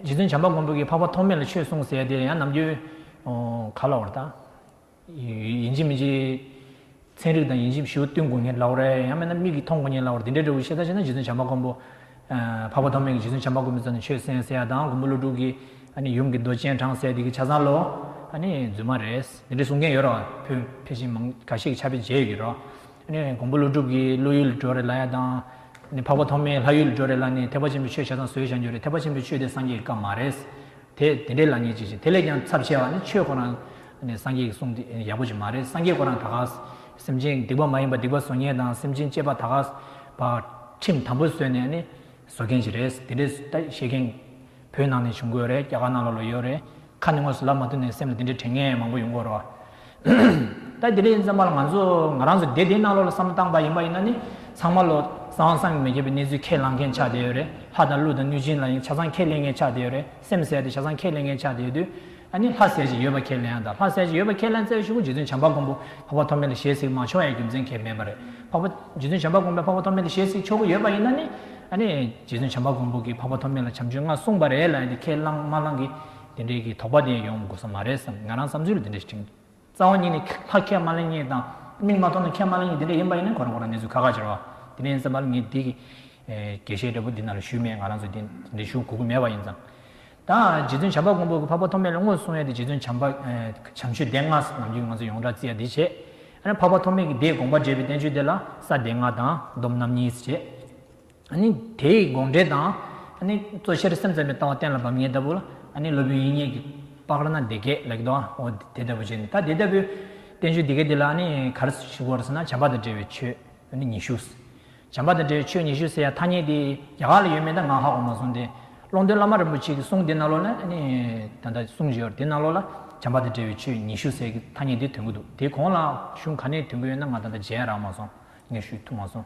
རྗེ་བཙུན་བྱམས་པ་མགོན་པོ་གིས་འཕགས་པ་ཐོགས་མེད་ལ་ཆོས་གསུངས་ཟེར་དེ་ཡང་ནམ་རྒྱུན། ག་ལ་བར་དང། ཡིན་གཅིག་མིན་གཅིག། ཚན་རིག་དང་ཡིན་གཅིག་ཞུ་བཏུན་དགོས་ངེས་ལ་བར། ཡང་མིན་ན་མིག་གིས་མཐོང་དགོས་ངེས་ལ་བར་དེ་འདྲའི་འབྲས་བུ་ཤེས་ཐབས་ཤེས་ན་རྗེ་བཙུན་བྱམས་པ་མགོན་པོ། འཕགས་པ་ཐོགས་མེད་ཀྱིས་རྗེ་བཙུན་བྱམས་པ་མགོན་པོའི་རྩ་ནས་ཆོས་གསན་ཟེར་ཡ་དང་མགོན་པོ་ཀླུ་སྒྲུབ་ཀྱིས། ཡུམ་གྱི་མདོ་སྤྱན་དྲངས་ཟེར་དེ་གི་ཆ་ཚང་ལོ། རྫུན་མ་རེད། དེ་འདྲའི་གསུང་མཁན་ཡོད་རེད་བ། བོད་ཕལ་ཆེར་མང་ག་ཤེད་ཀྱི་ཆ་བེད་མཇལ་ཡོད་ཀྱི་རེད། ཀོང་པོ་ཀླུ་སྒྲུབ་ཀྱིས་ཀླུ་ཡུལ་ལི་གྲོ་རེ་ལ་ཡ་དང། འཕགས་པ་ཐོགས་མེད་ལྷ་ཡུལ་ལི་གྲོ་རེ་ལ་ནི་ཐེག་པ་ཆེན་པོའི་ཆོས་བྱ་དང་ཟོལ་བྱ་འགྱུར་རེ་ཐེག་པ་ཆེན་པོའི་ཆོས་དེ་སངས་རྒྱས་ཀྱི་བཀའ་མ་རེད། དེ་དེ་འདྲའི་ལ་ཉེས་ཅི་བྱེད་དེ་ལས་ཀྱང་ཚབས་ཆེ་བ་ནི་ཆོས་ཁོ་ན་ནི་སངས་རྒྱས་ཀྱི་གསུང་དེ་ཡག་པོ་ཅིག་མ་རེད་སངས་རྒྱས་ཁོ་རང་ད་གགས་སེམས་ཅན་སྡིག་པ་མ་ཡིན་པ་སྡིག་པ་བཟོ་ཉེས་དང་སེམས་ཅན་གཅེས་པ་ད་གགས་པ་ཁྲིམས་དམ་པོ་བཟོས་ནས་ནི་བཟོ་མཁན་ཞིག་རེད་དེ་འདྲས་ལྟ་བཤད་མཁན། བོད་ནང་ནས་བྱུང་དགོས་རེད་རྒྱ་གར་ནང་ལ་ལོག་ཡོད་རེད། ཁ་ནས་དངོས་སུ་ལབ་མ་ཐུབ་ནས་སེམས་ལ་དེ་འདྲའི་དྲན་ངེས་མང་པོ་ཡོང་དགོས་རོ། ལྟ་དེ་འདྲས་ཡིན་ཙམ་པ་ལ་ང་ཚོ་ང་རང་ཚོ་སྡེ་དེའི་ནང་ལོག་ལ་བསམ་བློ་བཏང་པ་ཡིན་པ་ཡིན་ན་ནི་ཚང་མ་ལོ་ཙང་བསམ་གྱི་མི་ཁྱབ་པའི་གནས་ཚུལ་ཁས་བླངས་མཁན་ཆགས་བསྡད་ཡོད་རེད་ལྷ་དང་ཀླུ་དང་གནོད་སྦྱིན་ལ་ཡང་ཆ་ཚང་ཁས་ལེན་མཁན་ཆགས་བསྡད་ཡོད་རེད། སེམས་གསལ་ཏེ་བྱ་བཟང་ཁས་ལེན་མཁན་ཆགས་བསྡད་དུས། ཨ་ནི་ལྷ་གསལ་ཅིག་ཡོད་པ་ཁས་ལེན་ཡ་དང་ལྷ་གསལ་ཅིག་ཡོད་པ་ཁས་ལེན་རྩེ་བའི་ཤུགས་ཀུན་རྗེ་བཙུན་བྱམས་པ་མགོན་པོ་འཕགས་པ་ཐོབ་མེད་ལ་ཞེས་ཚིག་མང་ཆུང་བ་ཡི་རྒྱུ་མཚན་ཁས་མེད་པ་རེད་འཕགས་པ། རྗེ་བཙུན་བྱམས་པ་མགོན་པོས་འཕགས་པ་ཐོབ་མེད་ལ་ཞེས་ཚིག་ཆོ་ག་ཡོད་པ་ཡིན་ན་ནི། ཨ་ནི། རྗེ་བཙུན་བྱམས་པ་མགོན་པོ་གིས་འཕགས་པ་ཐོབ་མེད་ལ་བྱམས་ཆོས་ལྔ་གསུངས་པ་རེད་ལ་ཡ་དེ་ཁས་བླངས་མ་བླངས་ཀྱིས་དེ་འདྲའི་གི་དོགས་པ་དེ་ཡོང་དགོས་ས་མ་རེད་བསམ་ང་རང་བསམ་ཚུལ་ལ་དེ་འདྲ་ཞིག་དྲན། རྩ་བ་ཉིད་ནས་ལྷ་ཁྱད་མ་ལེན་གཉིས་དང། མིང་མ་ཐོགས་ན་ཁྱད་མ་ལེན་གཉིས་དེ་འདྲ་ཡིན་པ་ཡིན་ན་གོ་རང་གོ་རང་གནས་ཚུལ་ཁ་ཁ་འབྱེར་བ། དེ་ནས་ཡིན་ཙམ་པར་ངས་འདི་གྱིས་དགེ་བཤེས་འདྲ་པོ་འདི་ན་ལ་ཞུས་མེད་ང་རང་ཚོ་དེ་འདྲའི་ཞུ་གོ་གི་མེད་པ་ཡིན་ཙང། ད་རྗེ་བཙུན་བྱམས་པ་མགོན་པོ་གི་འཕགས་པ་ཐོགས་མེད་ལ་དངོས་སུ་སོང་ཡས་དེ་རྗེ་བཙུན་བྱམས་པ་བྱམས་ཆོས་སྡེ་ལྔ་ཟེར་ནམ་རྒྱུན་ང་ཚོ་ཡོངས་གྲགས་བརྩི་ཡ་དེ་བྱས། ཨ་རན་འཕགས་པ་ཐོགས་མེད་ཀྱི་སྡེའི་དགོངས་པ་འགྲེལ་པའི་བསྟན་བཅོས་དེ་ལ་ས་སྡེ་ལྔ་དང་སྡོམ་རྣམ་གཉིས་ཟེར། དེ་ཡི་དགོངས་འགྲེལ་དང། གཙོ་ཆེར་སེམས་ཙམ་པའི་ལྟ་བ་གཏན་ལ་དབབ་ངེས་ལྟ་བུ་ལ། སློབ་དཔོན་དབྱིག་གཉེན་གྱི་པགས་ར་ན་བདེ་སྐད་ལེགས་མདོག་ཨོ་དེ་ལྟ་བུ་བྱས་ནས་ད་དེ་ལྟ་བུའི། བསྟན་བཅོས་འདི་སྐད་འདི་ལ་ནི་གར་ཞུགས་བར་ཟེར་ན་བྱམས་པ་དང་འབྲེལ་བའི་ཆོས་ཉི་ཤུ། བྱམས་པ་དང་འབྲེལ་བའི་ཆོས་ཉི་ཤུ་ཟེར་ཡང་ཐ་སྙད་དེ་རྒྱ་གར་ལ་ཡོད་མེད་ད་ང་ཧ་གོ་མ་སོང་སྟེ། ཀློང་རྡོལ་བླ་མ་རིན་པོ་ཆེ་གི་གསུང་དེ་ན་ལོ་ལ་ནི། ད་ལྟ་གསུང་བཞེས་བར་དེ་ན་ལོ་ལ་བྱམས་པ་དང་འབྲེལ་བའི་ཆོས་ཉི་ཤུ་ཟེར་གྱི་ཐ་སྙད་དེ་དོན་གོ་འདུག་དེ་གོང་ལ་གཞུང་ག་ནས་དོན་གོ་ཡོད་ན་ང་ད་ལྟ་མཇལ་རག་མ་སོང་ངས་ཞུས་ཐུབ་མ་སོང།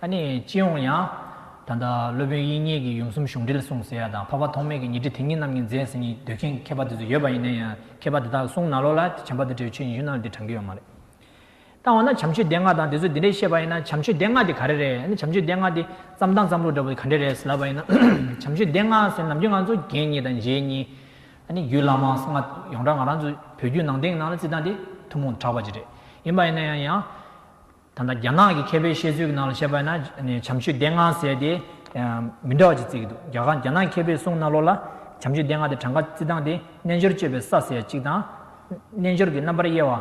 ཨ་ནི་ཅི་འོང་ཡང། ད་ལྟ་སློབ་དཔོན་དབྱིག་གཉེན་གྱིས་ཡུམ་གསུམ་གཞུང་འགྲེལ་གསུངས་ཟེར་ཡ་དང་འཕགས་པ་ཐོགས་མེད་ཀྱིས་ཉི་ཁྲི་དེ་ཉིད་རྣམ་གཉིས་མཛད་ཟེར་གཉིས་འདོད་མཁན་མཁས་པ་དེ་ཚོ་ཡོད་པ་ཡིན་ན་ཡང་མཁས་པ་དེ་དག་གསུང་ན་ལོག་ལ་དེ་བྱམས་པ་དེ་བྲེའུ་ཆོས་ཉི་ཤུ་རྣམས་དེ་དྲང་གི་ཡོད་མ་རེད། ད་འོ་ན་བྱམས་ཆོས་སྡེ་ལྔ་དང་དེ་ཚོས་དེ་འདྲའི་བཤད་པ་ཡིན་ན་བྱམས་ཆོས་སྡེ་ལྔ་དེ་ག་རེ་རེད་ཨ་ནི་བྱམས་ཆོས་སྡེ་ལྔ་དེ་བརྩམས་སྟངས་བརྩམས་ལུགས་འདྲ་པོ་དེ་ག་འདྲས་རེད་ཟེར་ལབ་པ་ཡིན་ན་བྱམས་ཆོས་སྡེ་ལྔ་ཟེར་ནམ་རྒྱུན་ང་ཚོ་རྒན་གཉིས་དང་མཇེ་གཉིས། ཨ་ནི་རྒྱུད་བླ་མ་སང་ང་ཡོངས་གྲགས་ང་རང་ཚོ་བོད་བརྒྱུད་ནང་བསྟན་གྱི་ནང་ལ་བརྩི་སྟངས་དེ་ཐུན་མོང་དུ་གྲགས་པ་ཅིག་རེད་ཡིན་པ་ཡིན་ན་ཡང་ཡང། ད་ལྟ་རྒྱ་ནག་གི་མཁས་པའི་བཤད་ཚུལ་གྱི་ནང་ལ་བཤད་པ་ཡིན་ན་བྱམས་ཆོས་སྡེ་ལྔ་ཟེར་ཏེ། མི་འདྲ་བ་ཅིག་བརྩིས་ཀྱི་འདུག་རྒྱ་ནག་གི་མཁས་པའི་གསུང་རྣ་ལོག་ལ། བྱམས་ཆོས་སྡེ་ལྔ་དེ་གྲངས་ཀ་བརྩི་སྟངས་དེ་རྣལ་འབྱོར་སྤྱོད་པའི་ས་ཟེར་ཡ་གཅིག་དང། རྣལ་འབྱོར་གྱི་རྣམ་པར་དབྱེ་བ།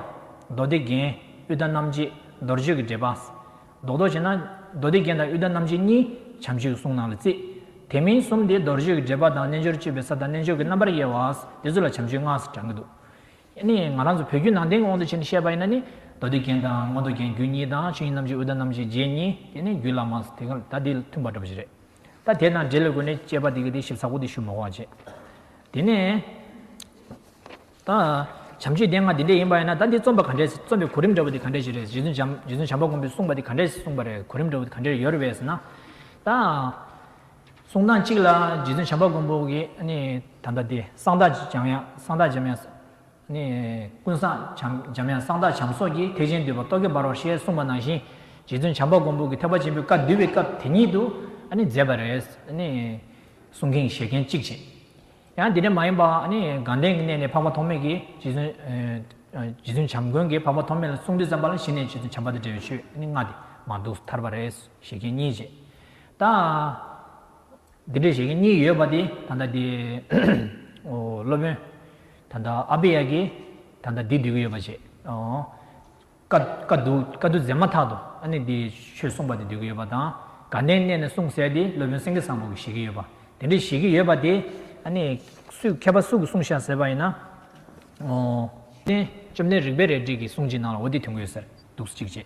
མདོ་སྡེ་རྒྱན། ཨུད་ད་རྣམ་འབྱེད། མདོར་བརྗོད་ཀྱི་འགྲེལ་པ། ཟློག་ཟློག་བྱས་ན། མདོ་སྡེ་རྒྱན་དང་ཨུད་ད་རྣམ་འབྱེད་གཉིས་བྱམས་ཆོས་ཀྱི་གསུང་ནང་ལ་བརྩི། དེ་མིན་གསུམ་དེ་མདོར་བརྗོད་ཀྱི་འགྲེལ་པ་དང་རྣལ་འབྱོར་སྤྱོད་པའི་ས་དང་རྣལ་འབྱོར་གྱི་རྣམ་པར་དབྱེ་བ། དེ་ཚོ་ལ་བྱམས་ཆོས་ལྔ་ཟེར་གྲགས་ཀྱི་འདུག། ནི་ང་རང་ཚོ་བོད་བརྒྱུད་ནང་བསྟན་གྱི་དབང་དུ་བྱས་ནས་བཤད་པ་ཡིན་ན་ནི། མདོ་སྡེ་རྒྱན་དང་མངོན་རྟོགས་རྒྱན་རྒྱུད་གཉིས་དང་ཆོས་དབྱིངས་རྣམ་བཞི་འུར་རྟ་རྣམ་བཞི་རྗེ་གཉིས་དེ་ནི་རྒྱུད་བླ་མ་དེ་ག་ད་དེ་མཐུན་པར་འགྲོ་པ་ཞིག་རེད། ད་དེ་དང་འབྲེལ་དགོས་ནས་དཔྱད་པ་དེ་ག་དེ་ཞིབ་ཚགས་པོ་དེ་ཞུ་མི་དགོས་བྱས། དེ་ནས། ད། བྱམས་ཆོས་སྡེ་ལྔ་དེ་འདྲས་ཡིན་པ་ཡིན་ན་ད་དེ་རྩོམ་པ་ག་འདྲས་རྩོམ་པའི་གོ་རིམ་འདྲ་བོ་དེ་ག་འདྲས་ཞིག་རེད་རྗེ་བཙུན་བྱམས་པ་མགོན་པོས་གསུངས་པ་དེ་ག་འདྲས་གསུངས་པ་རེད་གོ་རིམ་འདྲ་བོ་དེ་ག་འདྲས་ཡོད་རེད་བས་ན། ད། གསུང་སྟངས་གཅིག་ལ་རྗེ་བཙུན་བྱམས་པ་མགོན་པོ་གིས་ད་ལྟ་དེ་གསང་བདག་འཇམ་དབྱངས་ཀུན་བཟང་འཇམ་དབྱངས་གསང་བདག་བྱམས་སོགས་ཀྱིས་ཐེག་ཆེན་འདུས་པ་རྟོག་གེ་འབར་བ་ཞེས་གསུངས་པ་ནང་བཞིན་རྗེ་བཙུན་བྱམས་པ་མགོན་པོ་གིས་ཐེག་པ་ཆེན་པོའི་བཀའ་བསྡུས་པའི་སྐབས་དེ་ཉིད་དུ་མཛད་པ་རེད། གསུང་མཁན་གྱི་ཞལ་སྐྱིན་གཅིག་བྱས། ཡང་དེ་འདྲ་མ་ཡིན་པ་དགའ་ལྡན་གྱི་གནས་ནས་འཕགས་པ་ཐོགས་མེད་ཀྱིས་རྗེ་བཙུན་བྱམས་མགོན་གྱིས་འཕགས་པ་ཐོགས་མེད་ལ་གསུང་འདི་བརྩམས་པ་ལ་གཞི་ནས་རྗེ་བཙུན་བྱམས་པ་དང་འབྲེལ་བའི་ཆོས་ལྔ་དེ་མ་འདུག་ཐར་པ་རེད་ཟེར་ཞལ་སྐྱིན་གཉིས་བྱས། དང། འདི་འདྲས་ཤིག་གཉིས་ཡོད་པ་དེ་ད་ལྟ་དེ། སློབ་དཔོན། ད་ལྟ་ཨ་བྷི་ཡ་གིས་ད་ལྟ་འདི་སྡོད་ཀྱི་ཡོད་པ་བྱས། ཀ་རྡོ་མཛད་མ་ཐག་ཏུ་ཨ་ནི་དེ་ཆོས་གསུངས་པ་དེ་སྡོད་ཀྱི་ཡོད་པ་དང། དགའ་ལྡན་གནས་ནས་གསུངས་ཟེར་ཏེ་སློབ་དཔོན་སེང་གེ་བཟང་པོ་གིས་བཞེད་ཀྱི་ཡོད་པ། དེ་འདྲས་བཞེད་ཀྱི་ཡོད་པ་དེ་ཨ་ནི། སུས་མཁས་པ་སུ་གིས་གསུངས་ཤག་ཟེར་བ་ཡིན་ན། བཅོམ་ལྡན་རིག་པའི་རལ་གྲི་གིས་གསུངས་ཅི་གནང་ལ་འོ་དེ་དོན་གོ་ཡོད་ཟེར་འདུག་གཅིག་བྱས།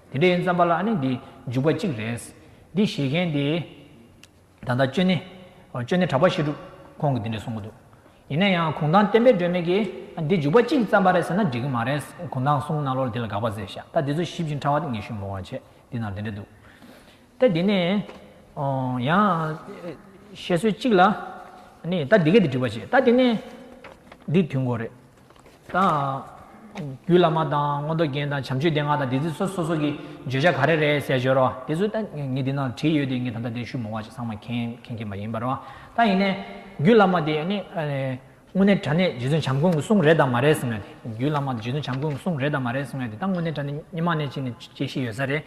དེ་འདྲའི་རྩམ་པ་ལ་ཨ་ནི་འདི་འཇུག་པ་གཅིག་རེད། འདི་བཞེས་མཁན་དེ། ད་ལྟ་སྤྱོད་གནས། སྤྱོད་གནས་གྲགས་པ་བཤད་སྒྲུབ། ཁོང་གིས་འདི་འདྲ་གསུངས་ཀྱི་འདུག། ཡིན་ན་ཡང་གུང་ཐང་བསྟན་པའི་སྒྲོན་མེ་གིས་ཨ་འདི་འཇུག་པ་གཅིག་རྩམ་པ་རེད་ཟེར་ན་འགྲིག་གི་མ་རེད། གུང་ཐང་གསུང་གནང་ལོར་འདི་ལ་དགག་པ་ཟེར་ཤག་ད་འདི་ཚོ་ཞིབ་ཅིང་ཕྲ་བ་ངེས་ཤུགས་འབོར་བར་བྱེད་འདི་ནང་འདི་འདྲ་འདུག་སྟེ། དེ་ནས། ཡང། བཤད་སྲོལ་གཅིག་ལ། ཨ་ནི་ད་འདི་གས་འདི་འགྲིག་པར་བྱེད་ད་དེ་ནས། འདི་དུས་འགོ་རེད། དང། རྒྱུད་བླ་མ་དང་མངོན་རྟོགས་རྒྱན་དང་བྱམས་ཆོས་སྡེ་ལྔ་དང་དེ་ཚིག་སོ་སོ་སོ་སོ་གི་བརྗོད་བྱ་ག་རེ་རེད་གསལ་བརྗོད་རོགས་དེ་ཚོ་ད་ངས་འདི་ན་བྲིས་ཡོད་དེ་ངས་ད་ལྟ་འདིར་ཞུ་མོ་བ་ཅིག་ཚང་མ་མཁྱེན་མཁན་གྱི་མ་ཡིན་པར་རོགས་ད་ཡིན་ནས་རྒྱུད་བླ་མ་དེ་ཡིན་ནི་དངོས་གནས་དྲ་གནས་རྗེ་བཙུན་བྱམས་མགོན་གྱི་གསུང་རེད་དམ་མ་རེད་གསུང་ཡོད་དེ་རྒྱུད་བླ་མ་དེ་རྗེ་བཙུན་བྱམས་མགོན་གྱི་གསུང་རེད་དམ་མ་རེད་གསུང་ཡོད་དེ་ད་དངོས་གནས་དྲ་གནས་རྙིང་མ་ནས་ཕྱིན་ནས་སྐྱེ་ཤི་ཡོད་ས་རེད་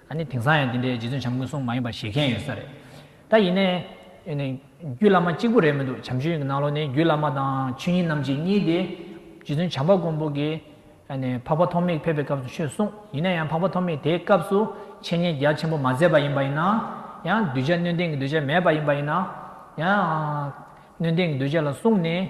ཨ་ནི་དེང་སང་ཡང་དེ་འདྲའི་རྗེ་བཙུན་བྱམས་མགོན་གསུང་མ་ཡིན་པ་བཞེས་མཁན་ཡོད་ས་རེད། ད་ཡིན་ནའི། རྒྱུད་བླ་མ་གཅིག་པུ་རེད་མི་འདུག་བྱམས་ཆོས་ཡིན་གྱི་ནང་ལོགས་ནས་རྒྱུད་བླ་མ་དང་ཆོས་ཉིད་རྣམ་འབྱེད་གཉིས་ཏེ། རྗེ་བཙུན་བྱམས་པ་མགོན་པོ་གིས། འཕགས་པ་ཐོགས་མེད་ཕེབས་པའི་སྐབས་སུ་ཆོས་གསུངས་ཡིན་ན་ཡང་འཕགས་པ་ཐོགས་མེད་དེའི་སྐབས་སུ་འཆད་ཉན་རྒྱ་ཆེན་པོ་མ་མཛད་པ་ཡིན་པ་ཡིན་ན། ཡང་གདུལ་བྱ་སྣོད་ལྡན་གྱི་གདུལ་བྱ་མེད་པ་ཡིན་པ་ཡིན་ན། ཡང། སྣོད་ལྡན་གྱི་གདུལ་བྱ་ལ་གསུངས་ནས།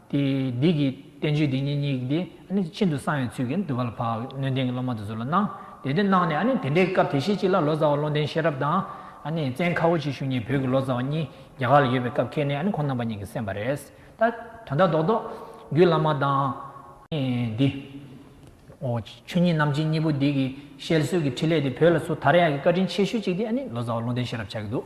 དེས་བདུད་ཀྱི་བསྟན་བཅོས་འདི་ཉིད་སྙིགས་དེ་ཤིན་ཏུ་གསང་བའི་ཚུལ་གྱིས་འདུལ་བ་ལ་བབ་ནས་སྣོད་ལྡན་གྱི་སློབ་མ་དེ་ཚོ་ལ་གནང། དེ་དུས་གནང་ནས་དེ་འདྲའི་སྐབས་དེ་ཤེད་ཅིག་ལ་ལོ་ཙཱ་བ་བློ་ལྡན་ཤེས་རབ་དང། བཙན་ཁ་བོ་ཆེ་ཞུ་གཉིས་བོད་ཀྱི་ལོ་ཙཱ་བ་གཉིས་རྒྱ་གར་ལ་ཡོད་པའི་སྐབས་ཁེལ་ནས་ཁོང་རྣམ་པ་གཉིས་ཀྱིས་གསན་པ་རེད། དོན་དག་རྡོག་རྡོག། རྒྱུད་བླ་མ་དང། འདི། ཨོ། ཆོས་ཉིད་རྣམ་འབྱེད་གཉིས་པོ་འདི་གི་ཤེལ་སྲོལ་གྱི་ཕྲིན་ལས་དེ་བོད་ལ་སུ་དར་ཡག་གི་བཀའ་དྲིན་ཆེ་ཤོས་ཅིག་དེ་ནི་ལོ་ཙཱ་བ་བློ་ལྡན་ཤེས་རབ་ཆགས་ཀྱི་འདུག།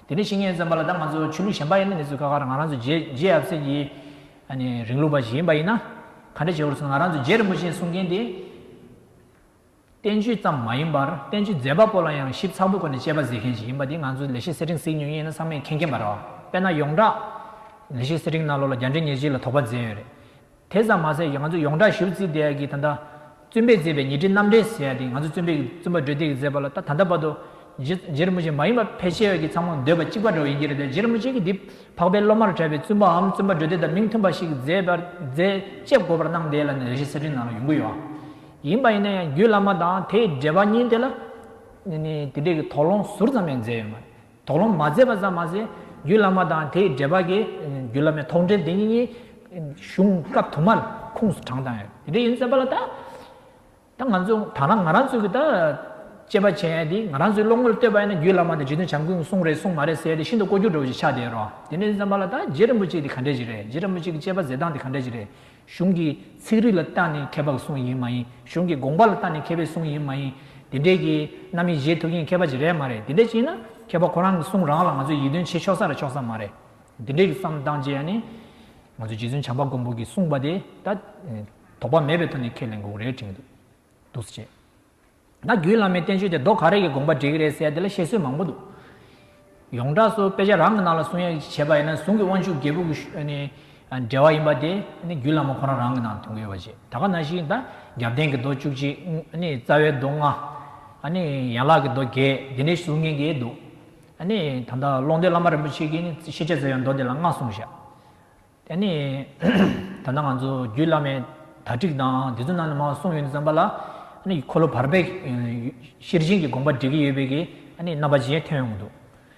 དེ་ནས་བཤེས་གཉེན་བཙན་པོ་ལ་ད་ང་ཚོ་ཆོས་ལུགས་གཞན་པ་ཡིན་ན་དེ་ཚོས་ཁ་ཁར་ང་རང་ཚོ་རྗེ་རྗེ་ཡབ་སྲས་ཀྱི་རིང་ལུགས་པ་ཞིག་ཡིན་པ་ཡིན་ན་ག་འདྲ་བྱེད་བར་སོང་ང་རང་ཚོ་རྗེ་རིན་པོ་ཆེའི་གསུང་མཁན་དེ་བསྟན་བཅོས་ཙམ་མ་ཡིན་པར་བསྟན་བཅོས་མཛད་པ་པོ་ལ་ཡང་ཞིབ་ཚགས་པོའི་སྒོ་ནས་དཔྱད་པ་མཛད་མཁན་ཞིག་ཡིན་པ་དེ་ང་ཚོ་ལས་བྱེད་སེར་ཕྲེང་གཟིགས་ཉུང་ཡིན་ན་ཚང་མས་མཁྱེན་མཁྱེན་པ་རེད་དཔེར་ན་ཡོངས་གྲགས་ལས་བྱེད་སེར་ཕྲེང་རྣ་ལོ་ལ་རྒྱ་འདྲེ་ཉེར་གཅིག་ལ་དོགས་པ་མཛད་ཡོད་རེད་དེ་ཙམ་མ་ཟད་ཀྱི་ང་ཚོ་ཡོངས་གྲགས་ཞིབ་རྩིས་བསྡད་ཡ་གི་ད་ལྟ། བཙུན་པས་མཛད་པའི་ཉི་ཁྲི་རྣམ་འགྲེལ་ཟེར་ཡ་དེ་ང་ཚོ་བཙུན་པས་བཙུན་པ་སྒྲོལ་སྡེས་མཛད་པ་ལ་ད་ལྟ་བར་དུ། རྗེར་མོ་ཆེ་མ་ཡིན་པ་ཕལ་ཆེ་བ་གིས་ཚང་མ་འདོད་པ་གཅིག་པ་འདྲ་བོ་ཡིན་གྱི་རེད་དེ་རྗེར་མོ་ཆེ་གིས་འདིས་འཕགས་པའི་སློབ་མར་གྲགས་པའི་བཙུན་པའམ་བཙུན་པ་སྒྲོལ་སྡེ་དང་མིང་མཐུན་པ་ཞིག་མཛད་པར་མཛད་ཅེས་དགོད་པར་སྣང་དེ་ལ་ནི་རེ་ཞིག་གསེར་ཕྲེང་ནང་ལ་ཡོང་གི་ཡོད་ཨང། ཡིན་པ་ཡིན་ན་ཡང་རྒྱུད་བླ་མ་དང་དེའི་འགྲེལ་པ་གཉིས་དེ་ལ། དེ་འདྲའི་གི་དོགས་སློང་ཟུར་ཙམ་ཡང་མཛད་ཡོད་མ་རེད། དོགས་སློང་མ་མཛད་པ་ཙམ་མ་ཟད། རྒྱུད་བླ་མ་དང་དེའི་འགྲེལ་པ་གྱི། རྒྱུད་བླ་མའི་དོགས་འདྲི་འདི་ཉིད། གཞུང་སྐབས་དུ་མར་ཁུངས་སུ་དྲངས་དང། དེ་ཡིན་ཟེར་བ་ལ། ད་ང་ཚོ་ད་རང་ང་རང་ཚོ་གི་ད། དཔྱད་པ་བྱས་དེ་ང་རང་ཚོའི་བློ་ངོར་ལྟོས་པ་ཡིན་ན་རྒྱུད་བླ་མ་དེ་འཇིག་རྟེན་བྱམས་མགོན་གྱི་གསུང་རེད་གསུང་མ་རེད་ཟེར་ཏེ་ཤིན་ཏུ་ཀོ་རྒྱུག་འགྲོ་བ་ཞིག་ཆགས་བསྡད་རོགས། དེ་ནས་ཟེར་བ་ལ་ད་རྗེ་རིན་པོ་ཆེ་དེ་ག་འདྲས་ཞིག་རེད་རྗེ་རིན་པོ་ཆེ་གི་དཔྱད་པ་མཛད་སྟངས་དེ་ག་འདྲས་ཞིག་རེད། གཞུང་གི་ཚིག་རིས་ལ་བརྟགས་ནས་མཁས་པ་གི་གསུང་ཡིན་མ་ཡིན་གཞུང་གི་དགོངས་པ་ལ་བརྟགས་ནས་མཁས་པའི་གསུང་ཡིན་མ་ཡིན། དེ་འདྲའི་གི་རྣམ་དབྱེ་བཞེས་ཐུབ་མཁན་མཁས་པ་གཅིག་རེད་མ་རེད་དེ་འདྲ་བྱས་ན་མཁས་པ་ཁོ་རང་གི་གསུང་རང་ལ་ང་ཚོས་ཡིད་རྟོན་བྱེད་ཆོག་ས་རེད་ཆོག་ས་མ་རེད། དེ་འདྲའི་གི་བསམ་སྟངས་བཅས་ཡ་ནི། ང་ཚོས་རྗེ་བཙུན་བྱམས་པ་མགོན་པོ་གི་གསུང་པ་དེ་ད། དོགས་པ་མེད་པའི་ཐོག་ནས་ཁས་ལེན་དགོས་རེད་དྲན་གྱི་འདུག། འདུག་སེ་བྱས། ད་རྒྱུད་བླ་མའི་བསྟན་བཅོས་དེ་རྡོ་ག་རེ་གི་དགོངས་པ་འགྲིག་གི་རེད་ཟེར་དེ་ལ་བཤད་སྲོལ་མང་པོ་འདུག། ཡོངས་གྲགས་སུ་དཔེ་ཆ་རང་གི་ནང་ལ་གསུང་ཡ་བྱེད་པ་ཡིན་ན་གཟུངས་ཀྱི་དབང་ཕྱུག་རྒྱལ་བུ་གུ་འདྲེ་བ་ཡིན་པ་དེ་རྒྱུད་བླ་མ་ཁོ་རང་རང་གི་ནང་ལ་འཐུང་གི་ཡོད་པ་བྱེད་ད་ག་ན་ཞིག་ད་རྒྱབ་རྟེན་གྱི་རྡོ་བཅུ་གཅིག་རྩ་བའི་རྡོ་ལྔ། ཡན་ལག་གི་རྡོ་བརྒྱད་དེ་འདྲའི་གཟུགས་ངན་གྱི་འདུག། ད་ལྟ་ཀློང་རྡོལ་བླ་མ་རིན་པོ་ཆེ་གིས་ཤེས་བྱ་ཟེར་བའི་མདོ་དེ་ལ་སྔགས་གསུངས་བཞག། དེ་ནས་ད་ནང་ང་ཚོ་རྒྱུད་བླ་མའི་དག་སྒྲིག་དང་དེ་ཚོ་ནང་ནས་མང་བ་གསུངས་ཡོད་འདུག་བསམ་པ་ལ། འཁོར་ལོ་བར་པས་ཤེར་ཕྱིན་གྱི་དགོངས་པ་འགྲེལ་གྱི་ཡོད་པའི་རྣམ་པ་གཞན་ཐོན་ཡོང་འདུག་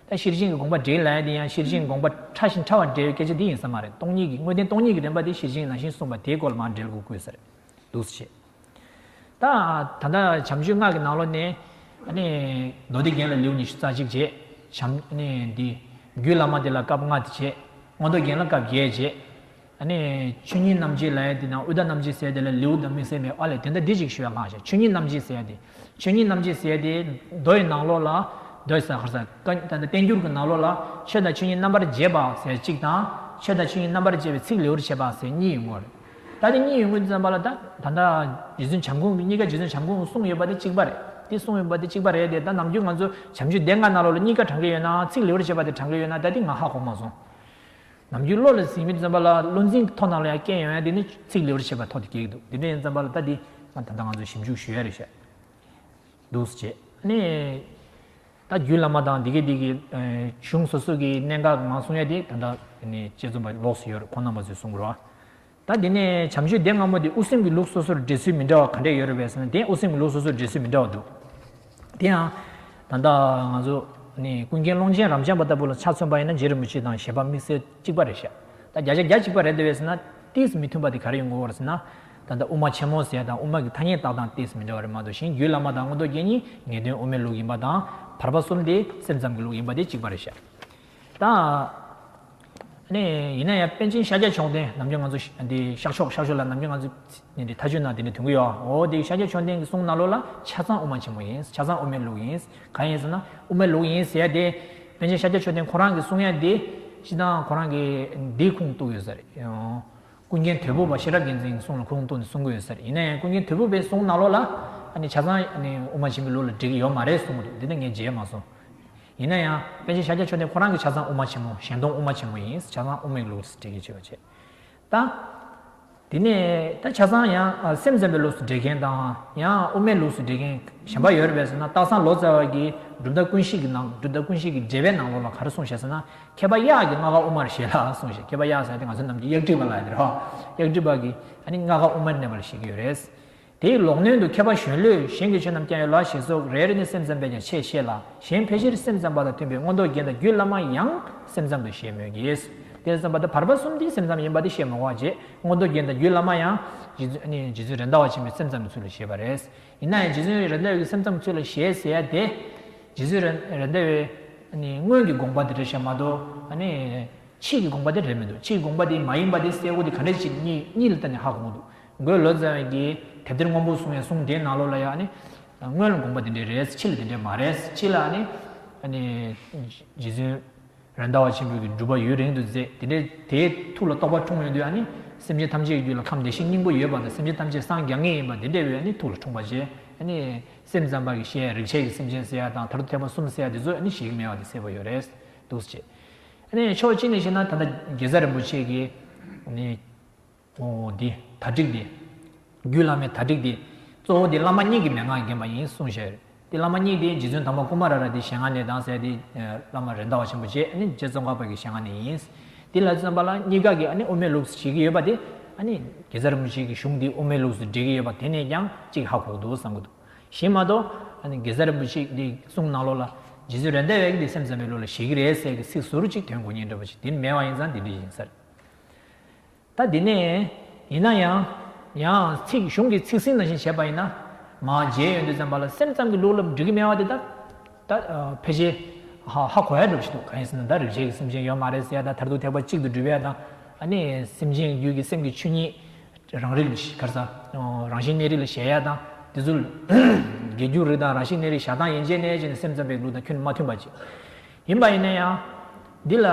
ད་ཤེར་ཕྱིན་གྱི་དགོངས་པ་འགྲེལ་ལ་ཡང་དེ་ཡང་ཤེར་ཕྱིན་གྱི་དགོངས་པ་ཕྲ་ཞིང་ཕྲ་བར་འགྲེལ་བའི་སྐད་ཆ་འདི་ཡིན་ས་མ་རེད་སྟོང་ཉིད་ཀྱི་དངོས་བསྟན་སྟོང་ཉིད་ཀྱི་དྲན་པ་དེ་ཤེར་ཕྱིན་ནང་བཞིན་གསུངས་པ་དེའི་སྐོར་ལ་མང་འགྲེལ་དགོས་དགོས་ས་རེད། འདུ་བྱེད་དང། ད་ལྟ་བྱམས་ཆོས་སྔགས་ཀྱི་ནང་ལོ་ནས། མདོ་སྡེ་རྒྱན་ལ་ལེའུ་ཉི་ཤུ་རྩ་གཅིག་བྱེད། རྒྱུད་བླ་མ་དེ་ལ་སྐབས་ལྔ་དེ་བྱེད། མངོན་རྟོགས་རྒྱན་ལ་སྐབས་བརྒྱད་བྱེད། ཆོས་ཉིད་རྣམ་འབྱེད་ལ་ཡང་དེ་ནང་ཨུད་ད་རྣམ་འབྱེད་གསལ་དེ་ལ་ལེའུ་དང་མི་གསལ་མེད་ཨཱ་ལས་དེ་འདྲ་འདི་གཅིག་ཞུ་བའི་ལྷག་བྱ་ཆོས་ཉིད་རྣམ་འབྱེད་གསལ་དེ། ཆོས་ཉིད་རྣམ་འབྱེད་གསལ་དེ། མདོ་ཡི་ནང་ལོ་ལ། མདོའི་ཟ་ཁར་ཟ། བསྟན་འགྱུར་གྱི་ནང་ལོ་ལ། ཆོས་དང་ཆོས་ཉིད་རྣམ་པར་འབྱེད་པ། ཟེར་གཅིག་དང། ཆོས་དང་ཆོས་ཉིད་རྣམ་པར་འབྱེད་པའི་ཚིག་ལེའུར་བྱས་པ། ཟེར་གཉིས་ཡོད་ངོ། ད་དེ་གཉིས་ཡོད་ངོས་འདི་ཙམ་པ་ལ་ད་ད་ལྟ་རྗེ་བཙུན་བྱམས་ཁོང་གི་གཉིས་ཀ་རྗེ་བཙུན་བྱམས་ཁོང་གསུངས་ཡོད་པ་དེ་གཅིག་པ་རེད་དེ་གསུངས་ཡོད་པ་དེ་གཅིག་པ་རེད་དེ་ད་ནམ་རྒྱུན་ང་ཚོ་བྱམས་ཆོས་སྡེ་ལྔ་ནང་ལོགས་ལ་གཉིས་ཀ་དྲང་གི་ཡོད་ནའང་ཚིག་ལེའུར་བྱས་པ་དེ་དྲང་གི་ཡོད་ན་ད་དེ་ང་ཧ་གོ་མ་སོང། ནམ་རྒྱུན་བློ་ལ་ཟིན་མི་འདུག་ཙམ་པ་ལ་བློ་འཛིན་གྱི་ཐོག་ནང་ལ་ཡང་སྐྱེ་ཡོང་ཡང་དེ་ནི་ཚིག་ལེའུར་བྱས་པ་ཐོག་ཏུ་སྐྱེ་གི་འདུག་དེ་འདྲ་ཡིན་ཙམ་པ་ལ་ད་དེ་ད་ལྟ་ང་ཚོ་ཞིབ་འཇུག་ཞུ་ཡ་རེད་བཤད། འདུ་བྱེད་ནི། ད་རྒྱུད་བླ་མ་དང་འདི་སྐད་འདི་སྐད་གཞུང་སོ་སོ་གི་གནད་འགག་མང་གསུང་ཡ་དེ་ད་ལྟ་དཔྱད་རྩོམ་པ་ལོགས་སུ་ཡོད་རེད་ཁོང་རྣམ་པ་ཚོས་གསུང་དགོས་རེད། ད་དེ་ནས་བྱམས་ཆོས་སྡེ་སྔ་མོ་དེ་དབུ་སེམས་ཀྱི་ལུགས་སོ་སོར་འགྲེལ་ཚུལ་མི་འདྲ་བ་ག་འདྲས་ཡོད་རེད་བས་ན་དེ་དབུ་སེམས་ཀྱི་ལུགས་སོ་སོར་འགྲེལ་ཚུལ་མི་འདྲ་བ་འདུག་དེ་ཡང། ད་ལྟ་ང་ཚོ་ནི་ཀུན་མཁྱེན་ཀློང་ཆེན་རབ་འབྱམས་པ་ལྟ་བུ་ལ་ཆ་མཚོན་པ་ཡིན་ན་རྗེ་རིན་པོ་ཆེ་དང་བཞེད་པ་དམིགས་བསལ་གཅིག་པ་རེད་བཤད། ད་བརྒྱ་ཆ་བརྒྱ་གཅིག་པ་རེད་ད་བས་ན། ཏིས་མི་མཐུན་པ་དེ་ག་རེ་ཡོད་འགོ་བར་ཟེར་ན། ད་ལྟ་དབུ་མ་ཆེན་མོ་ཟེར་དང་དབུ་མ་གི་ཐ་སྙད་བཏགས་སྟངས་ཏིས་མི་འདྲ་བ་རེ་མ་འདུག་ཞིང་རྒྱུད་བླ་མ་དང་སྔོན་གཏོ་རྒྱན་གཉིས་ངེས་དོན་དབུ་མའི་ལུགས་ཡིན་པ་དང་བར་པ་གསུམ་དེ་སེམས་ཙམ་གྱི་ལུགས་ཡིན་པ་དེ་གཅིག་པ་རེ་ཤ་སྟག་ནས་ཡིན་ན་ཡང་པན་ཆེན་ཤཱཀྱ་མཆོག་ལྡན་ནམ་རྒྱུན་ང་ཚོ་འདི་ཤག་ཤོག་ཤག་ཤོག་ལ་ནམ་རྒྱུན་ང་ཚོ་འདི་འདྲའི་ཐ་ཆུ་ནང་འདི་འདྲའི་དུང་གི་ཡོའོ་འོ་འདི་ཤཱཀྱ་མཆོག་ལྡན་གྱི་གསུང་སྣ་ལོ་ལ་ཆ་ཚང་དབུ་མ་ཆེན་མོ་ཡིན་ཆ་ཚང་དབུ་མའི་ལུགས་ཡིན་གང་ཡིན་ཟེར་ན་དབུ་མའི་ལུགས་ཡིན་ཟེར་དེ་པན་ཆེན་ཤཱཀྱ་མཆོག་ལྡན་ཁོ་རང་གི་གསུང་ཡ་འདི་ཤི་ད་ཁོ་རང་གི་འདིའི་ཁུངས་གཏུགས་ཡོད་ཟེར་ཡོང། ཀུན་མཁྱེན་དོལ་པོ་པ་ཤེས་རབ་རྒྱལ་མཚན་གྱི་གསུང་ལ་ཁོ་རང་གཏུགས་ནས་གསུང་གི་ཡོད་ཟེར་རེད་ཡིན་ན་ཡང་ཀུན་མཁྱེན་དོལ་པོ་པའི་གསུང་ནང་ལོགས་ལ་ཨ་ནི་བྱ་ཚང་ཨ་ནི་དབུ་མ་ཆེན་པོའི་ལུགས་ལ་འགྲིག་གི་ཡོད་མ་རེད་གསུང་གི་རེད་འདི་འདྲ་ངས་མཇལ་མ་སོང། ཡིན་ན་ཡང་པན་ཆེན་ཤཱཀྱ་ཆོས་འདས་ཁོ་རང་གིས་བྱ་ཚང་དབུ་མ་ཆེན་མོ་གཞན་སྟོང་དབུ་མ་ཆེན་མོ་ཡིན་བྱ་ཚང་དབུ་མའི་ལུགས་སུ་འགྲེལ་གྱི་བྱས་པ་བྱས། ད་དེ་ནས་ད་བྱ་ཚང་ཡང་སེམས་ཙམ་པའི་ལུགས་སུ་འགྲེལ་མཁན་དང་ཡང་དབུ་མའི་ལུགས་སུ་འགྲེལ་མཁན་གཞན་པ་ཡོད་རེད་པས་ཟེར་ན་སྟག་ཚང་ལོ་ཙཱ་བ་གིས་གྲུབ་མཐའ་ཀུན་གཞི་གི་ནང་གྲུབ་མཐའ་ཀུན་གཞི་གི་འགྲེལ་པའི་ནང་ལོགས་ལ་ག་རེ་གསུངས་ཞེས་ཟེར་ན་མཁས་པ་གཡག་གི་རྔ་ཁ་དབུ་མར་བཞེད་ལ་གསུངས་ཤིག་མཁས་པ་གཡག་ཟེར་ཏེ་ང་ཚོ་རྣམས་ཀྱི་གཡག་བྲིས་པ་ལ་འདིར་ཧོ་གཡག་བྲིས་པ་གི་ཨ་ནི་རྔ་ཁ་དབུ་མར་གནས་པར་བཞེད་ཀྱི་ཡོད་རེད། དེའི་ལོག་གནོན་དུ་མཁས་པ་གཞོན་ལུས་གཞན་གྱི་ཆོས་རྣམས་སྐྱ་ཡོ་ལ་ཞེས་སོགས་རེ་རེ་ནས་སེམས་ཙམ་པས་ཀྱང་ཆེས་ཤེས་ལ་གཞན་ཕལ་ཆེར་སེམས་ཙམ་པ་དང་མཐུན་པའི་མངོན་རྟོགས་རྒྱན་དང་རྒྱུད་བླ་མ་ཡང་སེམས་ཙམ་དུ་བཞེད་མོད་ཀྱི། དེ་ཙམ་པ་དང་བར་པ་གསུམ་དེ་སེམས་ཙམ་ཡིན་པ་དེ་བཤད་མ་གོ་བ་བརྗེད་མངོན་རྟོགས་རྒྱན་དང་རྒྱུད་བླ་མ་ཡང། རྗེ་བཙུན་རེད་མདའ་བ་ཆེན་པོའི་སེམས་ཙམ་གྱི་ཚུལ་ལ་བཞེད་པ་རེད། ཡིན་ན་ཡང་རྗེ་བཙུན་རེད་ལྡེ་བའི་སེམས་ཙམ་ཚུལ་ལ་ཞེས་ཟེར་ཡ་དེ། རྗེ་བཙུན་རེད་ལྡེ་བའི། སྔོན་གྱི་དགོངས་པ་དེ་རེད་བཤད་མ་གཏོགས། ཕྱིས་ཀྱི་དགོངས་པ་དེ་རེད་མི་འདུག་ཕྱིས་ཀྱི་དགོངས་པ་དེ་མ་ཡིན་པ་དེ་གསལ་བོ་དེ་ག་འདྲས་ཅིག་གཉིད་ལ་བཏགས་ནས་ཧ་གོ་འདུག་འགོས་ལོ་ཙཱ་བས་ཀྱི་དེབ་དེར་སྔོན་པོ་གསུངས་ཡ་གསུངས་དེའི་ནང་ལོགས་ལ་ཡང། སྔོན་ལ་དགོངས་པ་དེ་འདྲས་རེད་ཕྱི་ལ་དེ་འདྲས་མ་རེད་ཕྱི་ལ། རྗེ་བཙུན། རན་ཟླ་བ་ཆེན་པོའི་གྱི་སྒྲུབ་པ་ཡུན་རིང་དུ་མཛད་དེ་འདྲའི་དེའི་ཐུགས་ལ་རྟོགས་པ་འཁྲུངས་མོད་དུས་ནི་སེམས་ཅན་ཐམས་ཅད་ཀྱི་རྒྱུད་ལ་ཁམས་བདེ་གཤེགས་སྙིང་པོ་ཡོད་པ་དང་སེམས་ཅན་ཐམས་ཅད་སངས་རྒྱ་ངེས་ཡིན་པ་དེ་འདྲའི་དབུས་ནི་ཐུགས་ལ་འཁྲུངས་པ་བྱས་ནི། སེམས་ཙམ་པ་གྱི་ཤེས་ཡ་རིག་བྱེད་ཀྱི་སེམས་ཅན་བསད་ཡ་དང་དར་དུ་ཐེག་པ་གསུམ་བསད་ཡ་དེ་ཚོ་ནི་ཞིག་གི་མེད་པ་དེ་བསད་པ་ཡོད་རེད་འདུག་ཅེས། ཕྱོགས་གཅིག་ནས་བཤད་ན་ད་ལྟ་དགེ་རྩ་རིན་པོ་ཆེ་གྱིས། གཙོ་བོ་དེ་ད་ཀྲིག་སྟེ། རྒྱུད་བླ་མའི་ད་ཀྲིག་སྟེ། གཙོ་བོ་དེ་བླ་མ་གཉིས་ཀྱི་མན་ངག་བརྒྱན་པ་ཡིན་གསུངས་ཞེས་རེད་དེ་བླ་མ་གཉིས་དེ་རྗེ་བཙུན་དམ་པ་ཀུ་མཱ་ར་ར་དེ་ཞལ་སྔ་ནས་དྭངས་གསལ་ཏེ། བླ་མ་རེད་མདའ་བ་ཆེན་པོ་བཅས་ནི་རྗེ་བཙོན་ཁང་བར་གྱི་ཞལ་སྔ་ནས་ཡིན། དེ་ལ་བརྩོན་པ་ལ་གཉིས་ཀ་གི་དབུ་མའི་ལུགས་སུ་བྱེད་ཀྱི་ཡོད་པ་དེ། གེ་སར་མུ་ཆེ་གི་གཞུང་དེ་དབུ་མའི་ལུགས་སུ་འགྲེལ་གྱི་ཡོད་པ་དེ་ནས་ཀྱང་གཅིག་ཧ་གོ་འདུག་བསམ་གྱི་འདུག་གཞན་མ་གཏོགས། གེ་སར་མུ་ཆེ་དེ་གསུང་གནང་ལོག་ལ། རྗེ་བཙུན་རེད་མདའ་བས་དེ་སེམས་ཙམ་པའི་ལུགས་ལ་བྱེད་ཀྱི་རེད་ཟེར་གྱི་ཚིག་ཟུར་གཅིག་དོན་གོ་ཉན་འདྲ་པོ་ཞིག་དེ་མེད་པ་ཡིན་ཙང་དེ་འདྲ་ཡིན་ས་རེད། ད་དེ་ནས། ཡིན་ན་ཡང། ཡང། ཚིག་གཞུང་གི་ཚིག་ཟིན་ནང་བཞིན་བྱས་པ་ཡིན་ན། ང་རྗེས་ཡོད་འདོད་ཙམ་པ་ལ་སེམས་ཙམ་གྱི་ལུགས་ལམ་འགྲིག་གི་མེད་བ་དེ་དག། ད། ཕལ་ཆེར། ཧ་ཧ་གོ་ཡ་འགྲོ་བཞིན་འདུག་གང་ཡིན་ཟེར་ན་ད་རིག་བྱེད་ཀྱི་སེམས་ཅན་ཡོད་མ་རེད་ཟེར་ཡ་ད་ཐར་ཐུག་ཐེག་པ་གཅིག་ཏུ་སྒྲུབ་ཡ་དང། ནི། སེམས་ཅན་རྒྱུད་ཀྱི་སེམས་ཀྱི་ཆོས་ཉིད། རང་རིག། གར་ས། རང་བཞིན་གནས་རིག་ལ་གཞལ་ཡ་དང། དེ་ཚོ། དགེ་རྒྱུ་རིག་དང་རང་བཞིན་གནས་རིག་བཞག་སྟངས་ཡན་ཆད་ནས་བྱས་ནས་སེམས་ཙམ་པའི་ལུགས་དང་ཁྱོད་མ་མཐུན་པ་ཅིག། ཡིན་པ་ཡིན་ན་ཡང། འདི་ལ།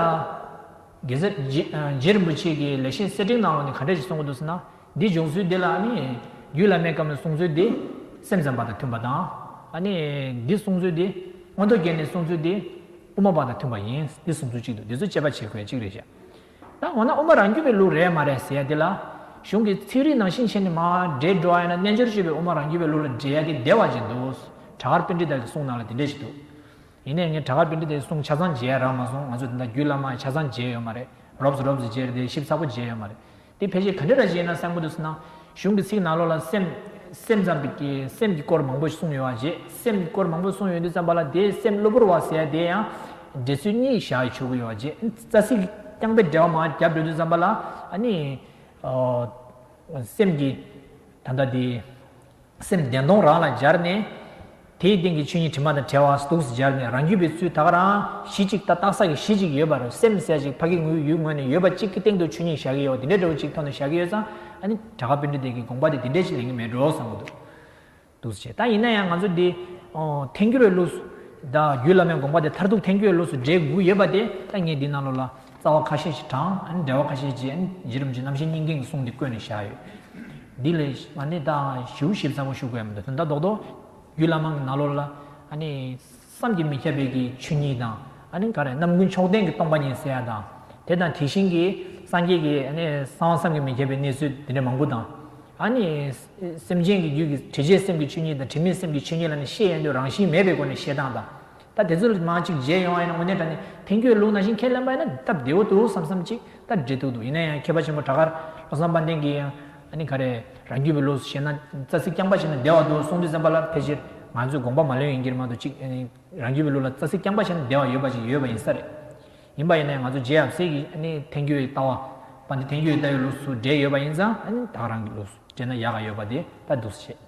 དགེ་རྩ། རྗེར་མི་ཕྱེད་ཀྱིས་ལེགས་བཤད་གསེར་སྤྲིན་གནང་བ་ནི་ག་འདྲ་ཞིག་གསུང་གི་འདུག་ཟེར་ན། འདིའི་སྦྱོང་ཚུལ་འདི་ལ་ནི། རྒྱུད་བླ་མའི་སྐབས་ནས་གསུང་ཚུལ་འདི། སེམས་ཙམ་པ་དང་མཐུན་པ་དང། འདི་གསུང་ཚུལ་འདི། མངོན་རྟོགས་རྒྱན་ནས་གསུང་ཚུལ་འདི། དབུ་མ་པ་དང་མཐུན་པ་ཡིན། འདི་གསུང་ཚུལ་གཅིག་འདུག་འདི་ཚོ་དཔྱད་པ་བྱེད་དགོས་གཅིག་རེད་བཤད། ད་འོ་ན་དབུ་མ་རང་རྒྱུད་པའི་ལུགས་རེད་མ་རེད་ཟེར་ཡ་འདི་ལ། གཞུང་གི་ཚིག་རིས་ནང་ཤིང་ཆེན་ནི་མ། འདྲེས་འགྲོ་ཡ་ན་རྣལ་འབྱོར་སྤྱོད་པའི་དབུ་མ་རང་རྒྱུད་པའི་ལུགས་ལ་འདྲེས་ཡ་གི་བདེ་བ་ཅན་འདུག། གྲྭ་དཀར་དཔེ་འདྲི་དག་གིས་གསུངས་གནང་ལ་དེ་འདྲས་ཤིག་འདུག། ཡིན་ནས་ངས་བྲག་དཀར་པི་ཏྲི་དེ་སྲུང་ཆ་ཚང་བརྗེ་ཡ་རག་མ་སོང་ང་ཚོས་དེ་འདྲ་རྒྱུད་བླ་མ་ཆ་ཚང་བརྗེ་ཡོད་མ་རེད་རོབས་སུ་རོབས་སུ་བརྗེ་རེད་དེ་ཞིབ་ཚགས་པོ་བརྗེ་ཡོད་མ་རེད་དེ་ཕལ་ཆེར་ག་འདྲ་ར་བྱས་ཡིན་ན་གསལ་མགོ་འདུག་སྣང། གཞུང་གི་ཚིག་ནག་ལོ་ལ་སེམས། སེམས་ཙམ་པའི་ཀྱི་སེམས་ཀྱི་སྐོར་མང་པོ་གསུངས་ཡོད་བ་རྗེས་སེམས་ཀྱི་སྐོར་མང་པོ་གསུངས་ཡོད་འདུག་བསམ་པ་ལ་དེའི་སེམས་གློ་བུར་བ་ཟེར་ཡ་དེ་ཡང། འགྲེལ་ཚུལ་གཉིས་བཞག་ཡོད་ཆོག་གི་ཡོད་བ་རྗེས་རྩ་ཚིག་རྐྱང་པའི་འགྲེལ་བ་མང་བ་རྒྱབ་འགྲོ་དུས་བསམ་པ་ལ་ཨ་ནི། སེམས་ཀྱི། ད་ལྟ་དེ། སེམས་བདེ་སྟོང་རང་ལ་སྦྱར་ནས། དེའི་སྟེང་གི་ཆོས་ཉིད་དྲི་མ་དང་བྲལ་བ་གཟུགས་སུ་སྦྱར་ནས་རང་རྒྱུད་པའི་ཚུལ་ད་ག་རང་གཞི་གཅིག་ཏག་ཏག་ས་གི་གཞི་གཅིག་ཡོད་པ་རུ་སེམས་གསལ་ཅིག་ཕ་གི་ངུའི་ཡུལ་ངོས་ནས་ཡོད་པ་གཅིག་གི་སྟེང་དུ་ཆོས་ཉིད་བཞག་གི་ཡོད་དེ་འདྲའི་འབྲས་བུ་གཅིག་ཐོག་ནས་བཞག་གི་ཡོད་ཙང་ཨ་ནི་བྲག་དཀར་དཔོན་རི་དེ་གི་དགོངས་པ་དེ་དེ་འདྲས་ཅིག་ལེན་གི་མེད་འགྲོ་བསམ་གི་འདུག་འདུག་བྱས་ད་ཡིན་ན་ཡང་ང་ཚོ་འདི་ཐལ་འགྱུར་བའི་ལུགས་སུ། བརྒྱུད་བླ་མའི་དགོངས་པ་དེ་མཐར་ཐུག་ཐལ་འགྱུར་བའི་ལུགས་སུ་འགྲེལ་དགོས་ཀྱི་ཡོད་པ་དེ་ད་ངས་འདི་ནང་ལོགས་ལ། རྩ་བ་ཁ་ཤས་ཀྱིས་དྲངས། འགྲེལ་བ་ཁ་ཤས་ཀྱིས་གཞི་རིམ་གྱི་རྣམ་བཤད་སྙིང་གའི་གསུང་དེ་བཀོད་ནས་བཞག་ཡོད། འདི་ལས། ཞུ་ཞིབ་ཚང་མ་ཞུ་དགོས་ཡ་མི་འདུག་དོན་དག་རྡོག་རྡོག་རྒྱུད་བླ་མ་གི་ནག་ལོར་ལ། བསམ་གྱིས་མི་ཁྱབ་པའི་གི་ཆོས་ཉིད་དང། རྣམ་ཀུན་མཆོག་ལྡན་གྱི་སྟོང་པ་ཉིད་གསལ་བ་དང། དེ་དང་དེ་བཞིན་གྱི་སངས་རྒྱས་ཀྱི་གསང་བ་བསམ་གྱིས་མི་ཁྱབ་པའི་གནས་ཚུལ་དེ་འདྲ་མང་པོ་དང། སེམས་ཅན་གྱི་རྒྱུད་ཀྱི་དྲི་བྱའི་སེམས་ཀྱི་ཆོས་ཉིད་དང་དྲི་མེད་སེམས་ཀྱི་ཆོས་ཉིད་ལ་ནི་ཤེས་ཡོན་ཏུ་རང་བཞིན་མེད་པའི་སྒོ་ནས་ཤེས་སྟངས་དང། ད་དེ་ཚོ་ལ་མང་ཅིག་མཇལ་ཡོང་ཨ་ཡེ་ན་དངོས་གནས་ད་ནི་དེང་ཁྱོད་ལུག་ནང་བཞིན་ཁས་ལེན་པ་ཡིན་ན་སྟབས་བདེ་བོ་འདུག་བསམ་བསམ་ཅིག་ད་འབྲེལ་ཐུག་འདུག་ཡིན་ན་ཡང་མཁས་པ་ཆེན་པོ་བྲག་དཀར་བློ་བཟང་དཔལ་ལྡན་གྱིས་ཡང་ཨ་ནི་ག་རེ་རང་རྒྱུད་པའི་ལུགས་སུ་བཤད་ན་རྩ་ཚིག་རྐྱང་པ་བྱས་ན་བདེ་བ་འདུག་གསུང་འདི་གསན་པ་ལ་ཕལ་ཆེར་ང་ཚོས་དགོངས་པ་མ་ལོན་ཡིན་གྱིར་མ་འདུག་ཅིག་ཨ་ནི་རང་རྒྱུད་པའི་ལུགས་ལ་རྩ་ཚིག་རྐྱང་པ་བྱས་ན་བདེ་བ་ཡོད་པ་ཅིག་ཡོད་པ་ཡིན་ས་རེད། ཡིན་པ་ཡིན་ན་ཡང་ང་ཚོ་རྗེ་ཡབ་སྲས་ཀྱིས་ཨ་ནི་ཐན་སྐྱུའི་ལྟ་བ། པ་འདི་ཐན་སྐྱུའི་ལྟ་བའི་ལུགས་སུ་འགྲེལ་ཡོད་པ་ཡིན་ཙང་ཨ་ནི་བདག་རང་གི་ལུགས་སུ་འགྲེལ་ན་ཡག་ག་ཡོད་པ་དེ་ལྟ་འདུག་ཟེར་བཤད།